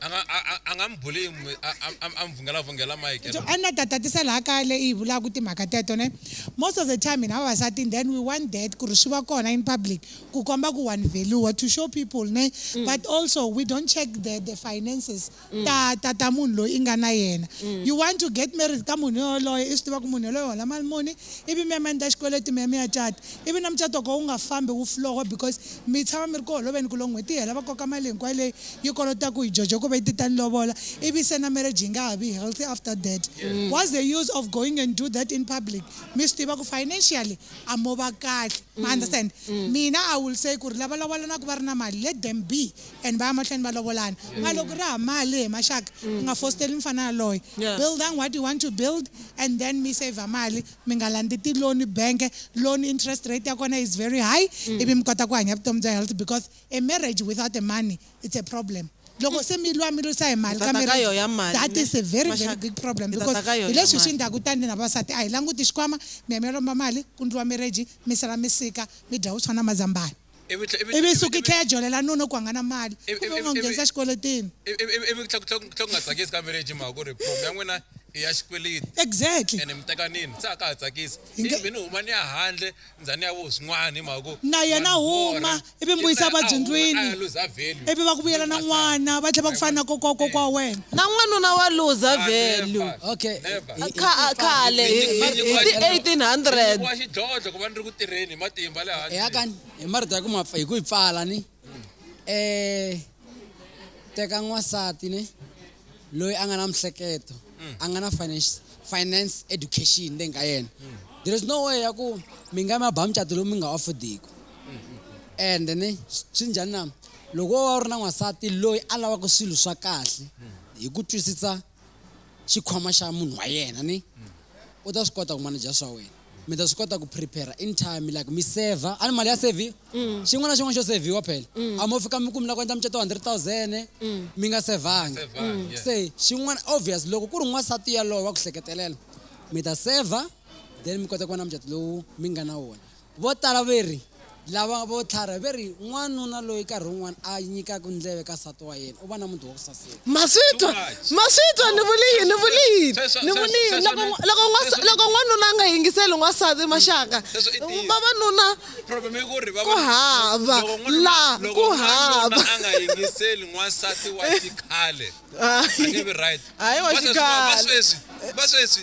a nga a- a- a nga mi buli mi- a- a- a- a mi vhungela vhungela mike So, a ni ta tatisa laha kaya leyi hi vulaka timhaka teto ne most of the time hina vavasati and then we want that ku ri swi va kona in public ku komba ku one value to show people ne but also we don't check the, the finances ta ta ta munhu loyi i nga na yena you want to get married ka munhu yoloye i swi tiva ku munhu yoloye u hola mali muni ivi mi ya mi ya endla xikweleti mi ya mi ya cata ivi na mucato wa koho wu nga fambi wu flowa because mi tshama mi ri ku holoveni ku loko n'hweti yi hela va koka mali hinkwayo leyi yi kolotaku hi jojo ku va yi ti ta ni lovola ivi se na marriage yi nga ha vi healthy after that what's the use of going and do that in public mi swi tiva ku financially a mo va kahle ma understand mina i will say ku ri lava lavolanaka va ri na mali let them be and va ya mahlweni va lovolana yes. ma loko ri ha mali hi maxaka mm. nga fosteli mfana yaloye yeah. building what you want to build and then mi saver mali mi nga landzi tiloni banke loan interest rate ya kona is very high mm. ivi mi kota ku hanya vutomi bya health because a marriage without the money it's a problem loko se mi lwa mi lwisa hi mali that is a very very big problem because hi leswi swi ndhaku tani na vavasati a hi languti xikwama mi ya mi ya lomba mali ku ndliwa mireji mi sala mi sika mi dya vuswa na mazambani ivi yi suka yi tlhela ya jolela nuna ku a nga na mali ku va u n'wi nghenisa xikweletini ivi ku tlhela ku nga tsakisi ka marriage mhaka ku ri problem ya n'wina i ya xikweleti exactly ene mi tekanini se a ka ha tsakisi ivi ni huma ni ya handle ndza ni ya vo swin'wana hi mhaka ku na yena huma ivi mi vuyisa vabyindlwini ivi va ku vuyela na n'wana va tlhela va ku fana na kokwa kokwa wa wena na n'wanuna wa luza value okay khale hi ti-1800 tirheni hi matimba le hansi ya kani hi marito ya ku mapfa hi ku yi pfala ni eh teka n'wansati ni loyi a nga na mihleketo a nga na finance finance education leyi nga yena there is no way ya ku mi nga mi ba mucato lowu mi nga affordiki and ni swi njhani na loko wo va u ri na n'wansati loyi a lavaka swilo swa kahle hi ku twisisa xikhwama xa munhu wa yena ni u ta swi kota ku manager swa wena mi ta swi kota ku prepare in time like mi saver a ni mali ya saviwa xin'wana na xin'wana xo saviwa phela a mo fika mi ku mi la ku endla mucato wa hundred thousand mi nga sevanga se xin'wana obvious loko ku ri n'wansati yalowo wa ku hleketelela mi ta saver then mi kota ku va na mucato lowu mi nga na wona Vo tala ve ri, Lava vo tlharha ve ri, N'wanuna loyi karhi wun'wana a nyikaka ndleve ka nsati wa yena u va na muti wa ku saseka. Ma swi twa? Ma swi twa? Ni vuli yini? Ni vuli yini? Ni vuli yini? Loko, loko, n'wasa, loko n'wanuna a nga yingiseli n'wansati, maxaka, vavanuna ku hava, la, ku hava. a nga yingiseli n'wansati wa xikhale, a nge vi right. Hayi wa Va sweswi, va xikhale. sweswi, va sweswi.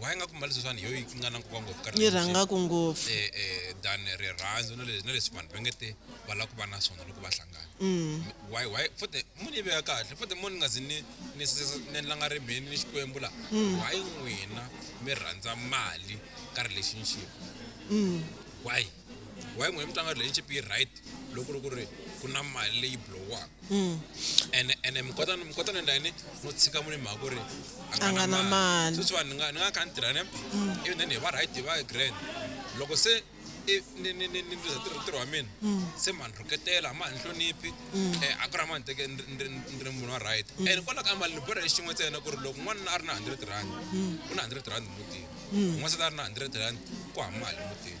why nga ku mbali sweswani yoyi ku nga na nkoka ngopfu ka ni relationship. rhangaku ngopfu eh, eh, than rirhandzu na le- na leswi vanhu va nge te va lava ku va na swona loko va hlangana why why futhi munhu yi veka kahle futhi munhu ni nga zi ni ni sese- ni langa rimbeni ni xikwembu la why n'wina mi rhandza mali ka relationship why why n'wina mi tlanga relationship yi right loko ri ku ri ku na mali leyi blowaka hmm. ene ene mi kota mi kota na ndani no tshika mune mhaka ku ri a nga na mali sweswi vanhu ni nga ni nga kha ni tirha ne hmm. ivi then hi va right hi va grand loko se ni ni ni ni luza tirho tirho wa mina hmm. se mani rhuketela ma ni hloniphi eh, a ku ri mani teke ni ri munhu wa right and kwalaho ka mali ni borha hi xin'we ntsena ku ri loko n'wana a ri na hundred rand ku na hundred rand mutini n'wana se ta ri na hundred rand ku ha mali mutini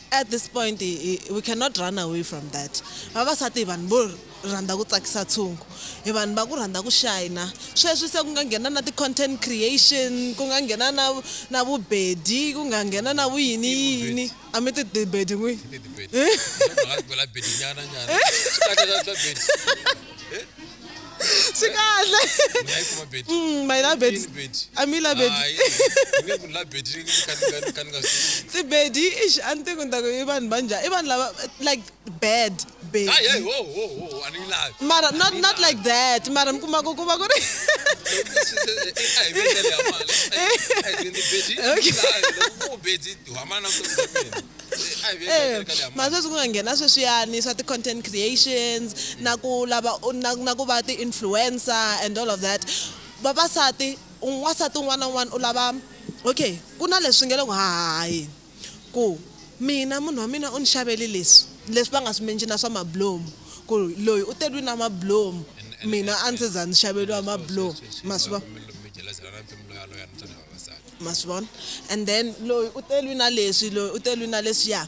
At this point we cannot run away from that, vavasati hi vanhu vo rhandza ku tsakisa tshungu, hi vanhu va ku rhandza ku shayina, sweswi se ku nga nghena na ti content creation, ku nga nghena na na vubedi, ku nga nghena na vuyini yini, a mi ti bedi n'wini. swi kahle mm, my labedi a mi labedisibedi ix a ni tiku ni taku i vanhu va njhani i vanhu lava like bad mara not not like that mara mi kuma ku ku va ku ri Eh, masweswi ku nga nghena sweswiyani swa ti-content creations na ku lava na, na ku va ti-influencer and all of that vavasati n'wansati un'wana na un'wana u lava okay ku na leswi nge le ku hahaheni ku mina munhu wa mina u ni xavele leswi leswi va nga swi mention-a swa mabulomu ku loyi u teriwile na mabulomu mina a ndzi za ni xaveriwa mabulomu ma swi vona ma swi vona and then loyi u te lwi na leswi loyi u te lwi na leswiya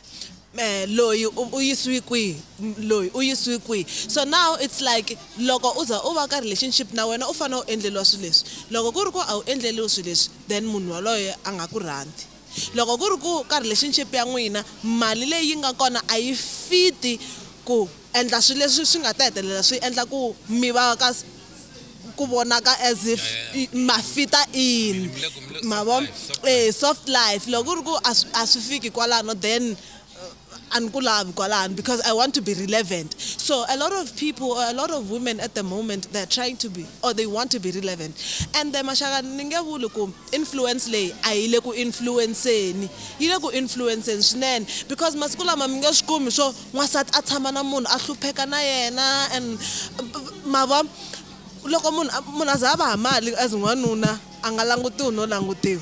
um loyi u yisiwi kwihi loyi u yisiwi kwihi so now it's like loko u za u va ka relationship na wena u fanele u endleriwa swilo leswi loko ku ri ku a wu endleriwi swilo leswi then munhu waloye a nga ku rhandzi loko ku ri ku ka relationship ya n'wina mali leyi nga kona a yi fiti ku Endla swilo leswi swi nga ta hetelela swi endla ku mi va ka ku vonaka as if mafita in mavo eh soft life loko ku ri ku a swi fiki kwalano then a ni ku lavi kwalano because I want to be relevant so a lot of people or a lot of women at the moment they are trying to be or they want to be relevant ende maxaka ni nge vuli ku. Influence leyi a yi le ku influence-ni, yi le ku influence-ni swinene because masiku lama mi nge swi kumi swo n'wansati a tshama na munhu a hlupheka na yena and ma vo loko munhu munhu a za a va ha mali as n'wanuna a nga langutiwi no langutiwa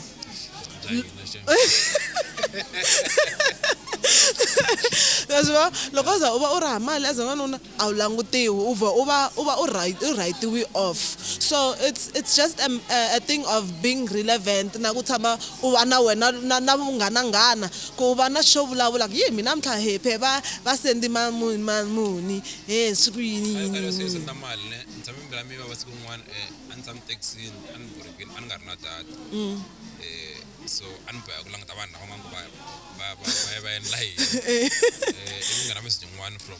ma swi vona loko u za u va u ri ha mali as n'wanuna a wu langutiwi u vhe u va u va u right u rhayitiwe off so it's it's just a a thing of being relevant na ku tshama u va na wena na na vunghana nghana ku u va na xo vulavula ku yi mina mintlha he phe va va sendi ma muni ma muni he swi ku yini yini yini yini senda mali ne ni tshame mbila mi va va siku rin'wana a ni tshame taxini a ni borhekini a ni nga ri na data so a ni boheka ku languta vanhu lava nga ku va va va va va endla yini ivi ni nghena message yin'wana from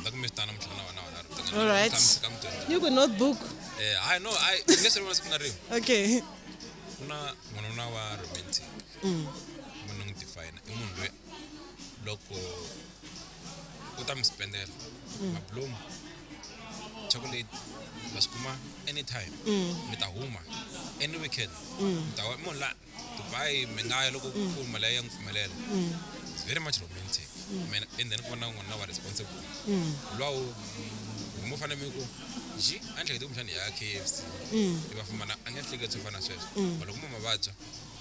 ndakumitana muhlangana wana wana All right. kamutenda Ni ku notebook. eh hayi no hayi nge se vona siku na rin'we Okay. ku na n'wanuna wa romantic munhu n'wi define i munhu loyi loko u ta mi spendela mablomu chocolate va swi kuma anytime mi ta huma any weekend mi ta wa- i munhu la Dubai mi nga ya loko ku mm. pfumela ya n'wi pfumelela mm. it's very much romantic mm. mina and then ku va na n'wanuna wa responsible lowu mo fanele mi ku ji a ni hlekete kumbexana ya KFC i va fumana a nge hlekete swo fana sweswo but loko mo mavabya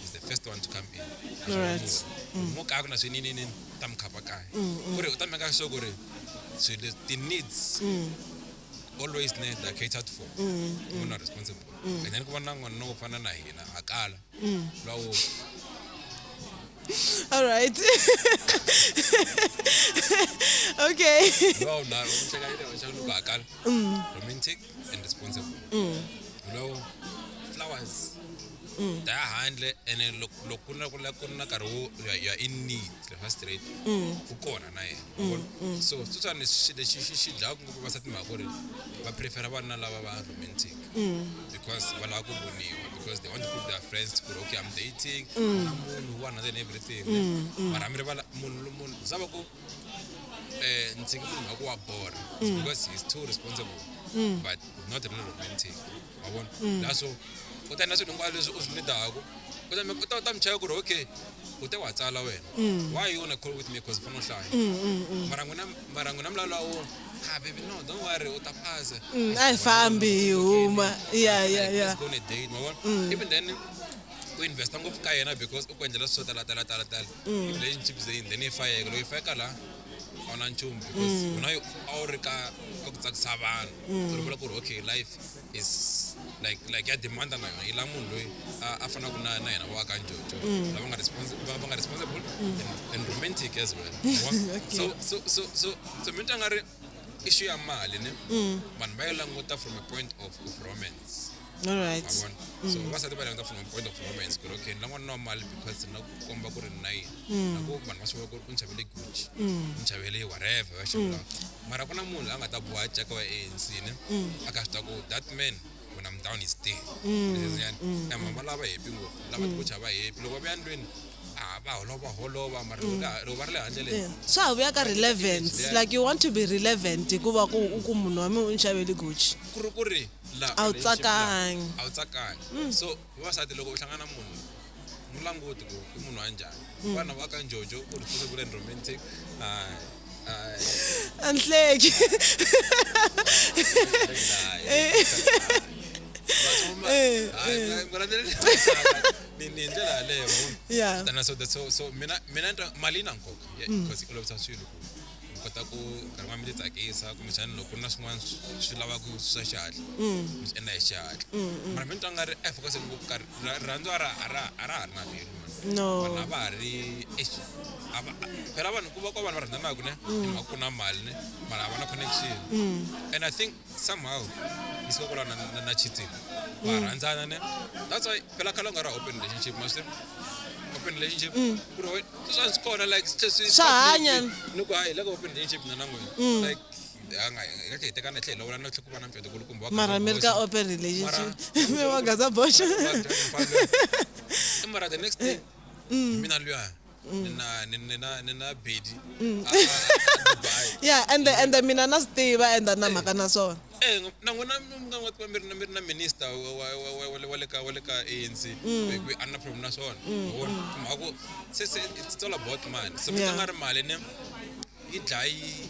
is the first one to come in mo kaya ku na swininini ta mi khapa kaya ku ri u ta meka sure ku ri ti-needs always need are catered for munhu a responsible kanyani ku va na n'wanuna wo fana na hina ha kala lwa wo all right okay lwa na u cheka ile wa chaka ha kala romantic and responsible lwa wo flowers ta ya handle ene loko loko ku na ku la ku na nkarhi wo you are- you are in need le fa straight u kona na yena vona so sweswiwani xi lexi xi xi dlayaka ngopfu vasati mhaka ku ri va prefera vanuna lava va romantic because va lava ku voniwa because they want to prove their friends ku ri okay i'm dating na munhu wa another and everything mara mi rivala munhu lo- munhu za va ku eh ndzi nge munhu wa ku wa borha because he's too responsible but not really romantic ma vona mm. na so kutani na swilo hinkwalo leswi u swi nidaka kutani u ta u ta mi cheka ku ri okay u te wa tsala wena mm. why you wanna call with me because u fanele u hlaya mm, mara n'wina mara n'wina mulalo wa wona ha baby no don't worry u ta phasa a hi fambi hi huma ya ya ya go on a date ma vona even then u investa ngopfu ka yena because u ku endlela swo tala tala tala tala relationship zain then yi fayeka loko yi fayeka laha a wu na nchumu because wena a wu ri ka ka ku tsakisa vanhu ri vula ku ri okay life is like like ya demand na yona yi la munhu loyi a fanaku na na yena wa ka njojo mm. lava nga responsible va nga responsible mm. and romantic as well so so so so so mi tanga ri issue ya mali ne mm. vanhu va yi languta from a point of, of romance all right so vasati va languta from a point of romance ku ri okay ni lan'wana na mali because na ku komba ku ri na yini na ku vanhu va swi vona ku ri u ni xavele gucci ni xavele whatever va xavela mara ku na munhu la nga ta boha nceka wa ANC ne mm. a ka swi ta ku that man when I'm down is there mm. and mama lava happy ngopfu lava mm. tikocha va happy loko va vuya ndlwini va holova holova mara loko va ri le handle leyi swa ha vuya ka relevance like you want to be relevant hikuva ku u ku munhu wa mina u ni xaveli gucci ku ri ku ri a wu tsakangi a wu tsakangi so hi wasati loko u hlangana munhu mu languti ku i munhu wa njhani mm. vana va ka njojo ku ri tuse ku len romantic anhleki ni hi ndlela yaleyo tana so so so mina mina mali yi na nkoka mm. because yi olovisa swilo ku u kota ku nkarhi wa mi ti tsakisa kumbexani loko ku ri na swin'wana swi lavaka swa xihatla mi swi endla hi xihatla mara mi twa nga ri efokase ngopfu karhi rirhandzu a ra a ra a ra ha ri na velu no vanhu a va ha ri eish, a va- a- phela vanhu ku va ku va vanhu va rhandzanaka ne and va ku na mali ne mara a va na connection and i think somehow yi suka kwala na, na, na cheating wa mm. rhandzana ne that's why phela khale u nga ri open relationship maswi open relationship mm. ku ri swa swi kona like swa hanya ni ku hayi loko open relationship na na n'wina mm. like ngake hi tekana tlhelo wena tlhe ku va na mfeto ku kumbe mara mi ri ka open relationship mi wa gaza boxa mara the next day mina luya ni na ni ni na ni na bedi mm. a- a- a- a Dubai. ya ende ende mina na swi tiva ende a ni na mhaka na swona Eh, ngo- na n'wina mi nga n'wi tiva mi ri na- mi ri na minister wa- wa- wa- wa- wa le- wa le ka wa le ka ANC Mm. hi ku a ni na problem na swona Or, mhaka ku se se it's all about money so mi Yeah. tlanga ri mali ne yi dlayi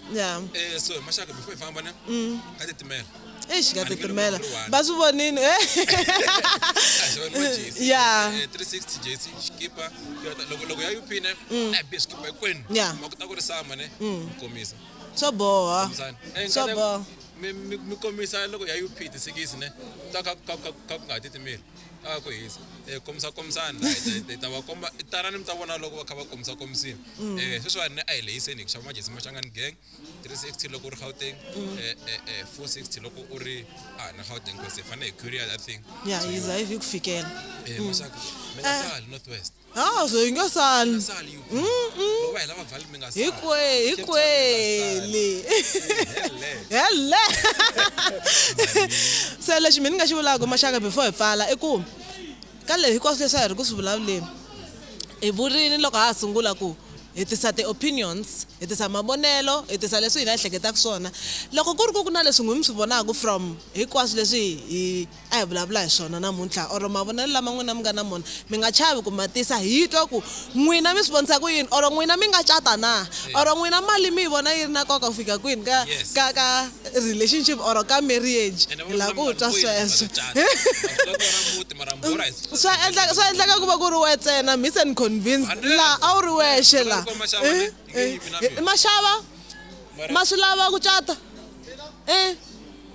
ya Eh, so mashaka before ifamba ne katitimela eish ngatitimela va swi vonini eh. ya Eh, 360 jesi xikipa Toyota. loko loko ya upine eh, be xikipa hinkwenu Ya. ma kuta ku ri sama ne komisa swo boha Mzani. Eh, swo ngati- boha mi- mi mi komisa loko ya up tisikisi ne ta ka ka- ka- ka ku nga ha titimeli a ku hisa um komisa komisani hi ta va komba tanani mi ta vona loko va kha va komisa komisini um sweswiwani a hi lehiseni hi ku xava majesi maxangani gang three sixty loko u ri gauteng um four sixty loko u ri a hi na gauteng cause hi fanele hi curier that thing ya hi za hi ku fikela um maxaka mi nga sali north west ha so yi nga sali sali yo loko va hela mavhali mi nga sali hikwe hikweli Hele. hele se lexi mina ni nga xi vulaka maxaka before hi pfala i ku ka leyi hinkwaswo leswi a hi ri ku swi vulavuleni hi vurini loko ha ha sungula ku hi tisa ti-opinions hi tisa mavonelo hi tisa leswi hina hi hleketaka swona loko ku ri ku ku na leswi n'wi mi swi vonaka from hinkwaswo leswi hi a hi vulavula hi swona namuntlha or mavonelo lama n'wina mi nga na mona mi nga chavi ku ma tisa hi twa ku n'wina mi swi vonisa ku yini or n'wina mi nga cata na or n'wina mali mi yi vona yi ri na nkoka ku fika kwini ka ka ka relationship or ka marriage hi la ku twa sweswo swa endleka swa endleka ku va ku ri we ntsena miss and convince laha a wu ri wexe laha maxava ma swi lava ku cata um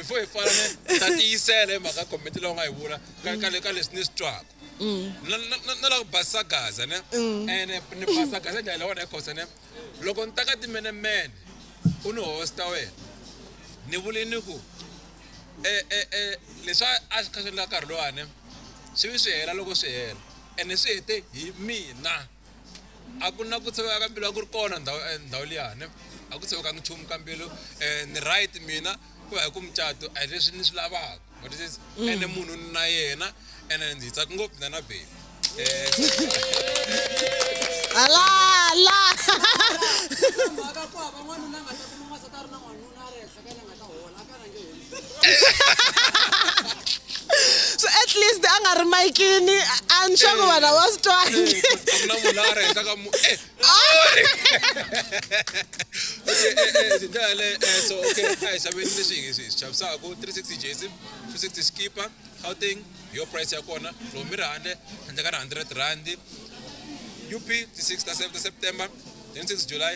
before hi pfala ne ta tiyisela hi mhaka comment leyi u nga yi vula ka ka le- ka leswi ni swi twaka Mm. Na- na- na- na la ku basisa gaza ne Mm. ene ni basa gaza hi ndlela leyi wona hikosa ne loko ni ta ka timenemene u ni hosta wena ni vule ni ku e- e- e, leswi a- a swi kha swi endla nkarhi lowani swi vi swi hela loko swi hela ene swi hete hi mina a ku na ku tshoveka ka mbilu a ku ri kona ndhawu eh, ndhawu liyani a ku tshoveka nchumu ka mbilu um ni right mina ku ya hi ku mucato a hi leswi ni swi lavaka what is this mm. ene munhu ni na yena ene ndzi tsaka ngopfu na na bebi eh, ala ala so at least a nga ri mayikini a nxaku eh. vanhu a va swi twangi eh, na munhu a rheta ka mu eh, ndlela le so okay a hi xaveni leswi hi swi xavisaka 360 jc 260 skipa gauteng hi yo price ya kona loko mi ri handle handle ka ri 100 rand up ti 6 ta september 26 july